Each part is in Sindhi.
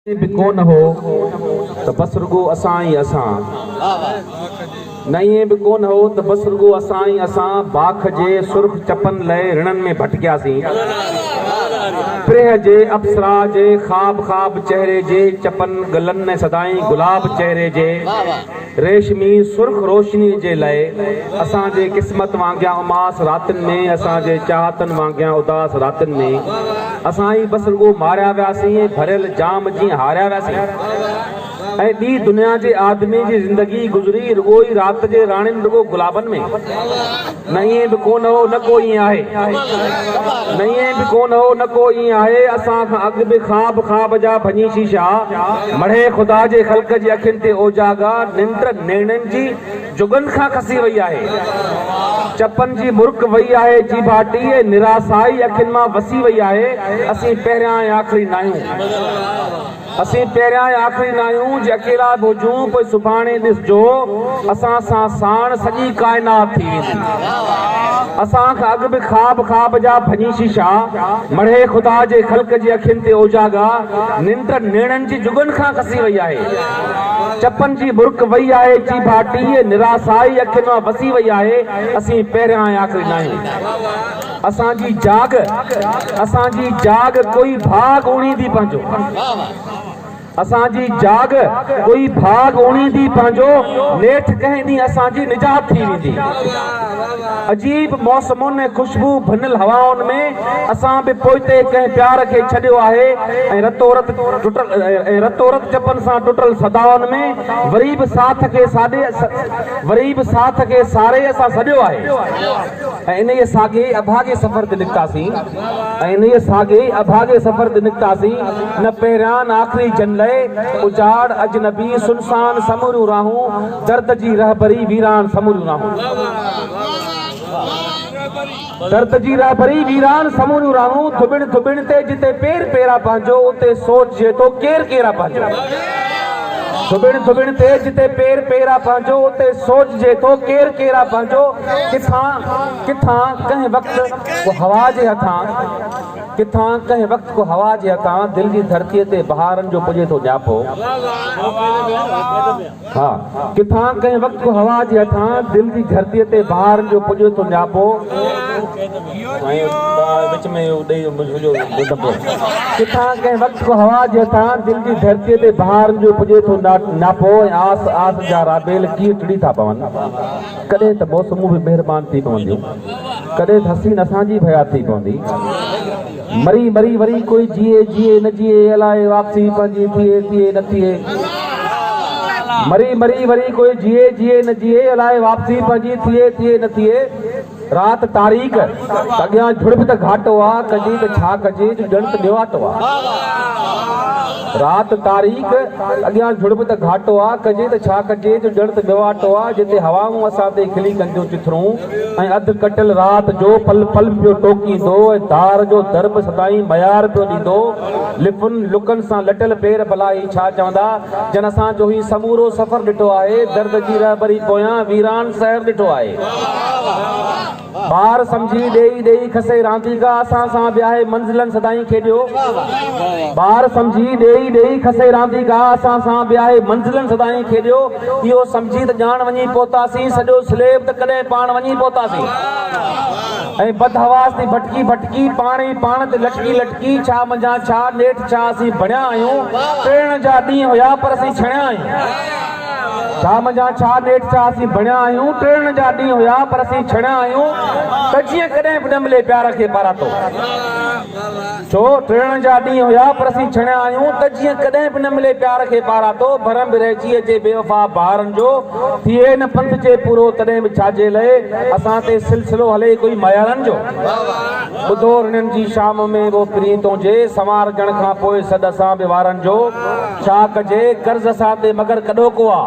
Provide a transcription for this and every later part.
ڪي به ڪو نه هو ته بس رڳو اسان ئي اسان. نه ائين به ڪو نه هو ته بس رڳو اسان ئي اسان باک جي سرخ چپن لئه رڻن ۾ ڀٽڪياسين. پرينء جي اپسرا جي خواب خواب چهري جي چپن ڳلن ۽ سدائين گلاب چهري جي. ريشمي سرخ روشنيء جي لئه اسان جي قسمت وانگيان اماس راتين ۾، اسان جي چاهتن وانگيان اداس راتين ۾، اسان ئي بس رڳو ماريا وياسين ۽ ڀريل جام جيئن هاريا وياسين ۽ ٻي دنيا جي آدمي جي زندگي گذري رڳو ئي رات جي راڻين رڳو گلابن ۾. نه ائين به ڪو نه هو نه ڪو ائين آهي نه ائين به ڪو نه هو نه ڪو ائين آهي اسان کان اڳ به خواب خواب جا ڀڃي شيشا مڙهي خدا جي خلق جي اکين تي اوجاڳا ننڊ نيڻن جي جڳن کان کسي وئي آهي چپن جي مرڪ وئي آهي جيڀاٽي ۽ نراسائي اکين مان وسي وئي آهي اسين پهريان ۽ آخري ناهيون. اسين پهريان ۽ آخري ناهيون جي اڪيلا به هجون پوء سڀاڻي ڏسجو اسان سان ساڻ سڄي ڪائنات ٿي ويندي اسان کان اڳ به خواب خواب جا ڀڃي شيشا مڙهي خدا جي خلق جي اکين تي اوجاڳا ننڊ نيڻن جي جڳن کان کسي وئي آهي چپن جي مرڪ وئي آهي چيڀا ٽيهي نراسائي اکين مان وسي وئي آهي اسين پهريان ۽ آخري ناهيون. اسان جي جاڳ اسان جي جاڳ ڪوئي ڀاڳ اڻيندي پنهنجو اسان جي جاڳ ڪوئي ڀاڳ اڻيندي پنهنجو نيٺ ڪنهن ڏينهن اسان جي نجات ٿي ويندي عجيب موسمن ۽ خوشبو ڀنل هوائن ۾ اسان به پوئتي ڪنهن پيار کي ڇڏيو آهي ۽ رتو رت ٽٽل ۽ رتو رت چپن سان ٽٽل صدائن ۾ وري به ساٿ کي ساڏي وري به ساٿ کي ساري اسان سڏيو آهي. ۽ انهيء ساڳئي اڀاڳي سفر تي نڪتاسين ۽ انهيء ساڳئي اڀاڳي سفر تي نڪتاسين، نه پهريان نه آخري جن لئه، اجاڙ، اجنبي، سنسان، سموريون راهون، درد جي رهبري، ويران، سموريون راهون. درد جي رهبري، ويران، سموريون راهون، ڌٻڻ ڌٻڻ تي جتي پير پيرا پنهنجو، اتي سوچجي ٿو ڪير ڪيرا پنهنجو. ڌوٻڻ ڌوٻڻ تي جتي پير پير آ پنهنجو اتي سوچجي ٿو ڪير ڪير آ پنهنجو ڪٿان ڪٿان ڪنهن وقت ڪو هوا جي هٿان ڪٿان ڪنهن وقت ڪو هوا جي هٿان دل جي ڌرتي تي بهارن جو پڄي ٿو ڄاپو ها ڪٿان ڪنهن وقت ڪو هوا جي هٿان دل جي ڌرتي تي بهارن جو پڄي ٿو ڄاپو ڪٿان ڪنهن وقت ڪو هوا جي هٿان دل جي ڌرتيء تي بهارن جو پڄي ٿو ناپو ۽ آس آس جا رابيل ڪيئن ٽڙي ٿا پون. ڪڏهن ته موسمون به مهربان ٿي پونديون. ڪڏهن ته حسين اسان جي به حيات ٿي پوندي. مري مري وري ڪوئي جيئي جيئي نه جيئي الاء واپسي پنهنجي ٿئي ٿئي نه ٿئي. مري مري وري ڪوئي جيئي جيئي نه جيئي الاء واپسي پنهنجي ٿئي ٿئي نه ٿئي. رات تاريڪ، اڳيان جھڙپ ته گھاٽو آ، ڪجي ته ڇا ڪجي جو ڄڻ ته ڏيواٽو آ. رات تاريڪ، اڳيان جھڙپ ته گھاٽو آ، ڪجي ته ڇا ڪجي جو ڄڻ ته ڏيواٽو آ، جتي ھوائون اسان تي کلي ڪن ٿيون چٿرون ۽ اڌ ڪٽيل رات جو پل پل پيو ٽوڪيندو ۽ دار جو در به سدائين ميار پيو ڏيندو، لفن لڪن سان لٽيل پير ڀلا ھي ڇا چوندا، جن اسان جو ھي سمورو سفر ڏٺو آھي، درد جي رھبري پويان ويران سحر ڏٺو آھي. ٻار سمجهي ڏيئي ڏيئي کسي رانديڪا اسان سان وياهي منزلن سدائين کيڏيو ٻار سمجهي ڏيئي ڏيئي کسي رانديڪا اسان سان وياهي منزلن سدائين کيڏيو اهو سمجهي ته ڄاڻ وڃي پهتاسين سڄو سليب ته ڪڏهن پاڻ وڃي پهتاسين ۽ بدحواس ٿي ڀٽڪي ڀٽڪي پاڻ ئي پاڻ تي لٽڪي لٽڪي ڇا منجهان ڇا نيٺ ڇا اسين بڻيا آهيون ٽڙڻ جا ڏينهن هيا پر اسين ڇڻيا آهيون ڇا منجهان ڇا نيٺ ڇا اسين بڻيا آهيون ٽڙڻ جا ڏينهن هيا پر اسين ڇڻيا آهيون ته جيئن ڪڏهن به نه ملي پيار کي پاراتو ڇو ٽڙڻ جا ڏينهن هيا پر اسين ڇڻيا آهيون ته جيئن ڪڏهن به نه ملي پيار کي پاراتو ڀرم به رهجي اچي بي وفا بهارن جو ٿئي نه پنڌ جي پورو تڏهن به ڇاجي لئي اسان تي سلسلو هلي ئي ڪوئي مايارن جو ٻڌو رنن جي شام ۾ وو پرين تنهنجي سنوارجڻ کان پوء سڏ اسان به وارن جو ڇا ڪجي قرض اسان تي مگر ڪڏو ڪو آ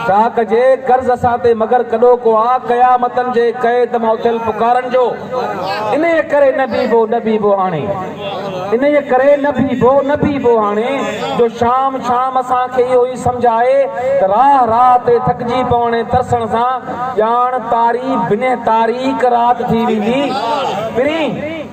ڇا ڪجي قرض اسان تي مگر ڪڏو ڪو آ قيامتن جي قيد مان اٿيل پڪارن جو انهيء ڪري نه بيهبو نه بيهبو هاڻي انهيء ڪري نه بيهبو نه بيهبو هاڻي جو شام شام اسان کي اهو ئي سمجهه آهي ته راهه راهه تي ٿڪجي پوڻ ۽ ترسڻ سان ڄاڻ تاري بنهه تاريڪ رات ٿي ويندي پرين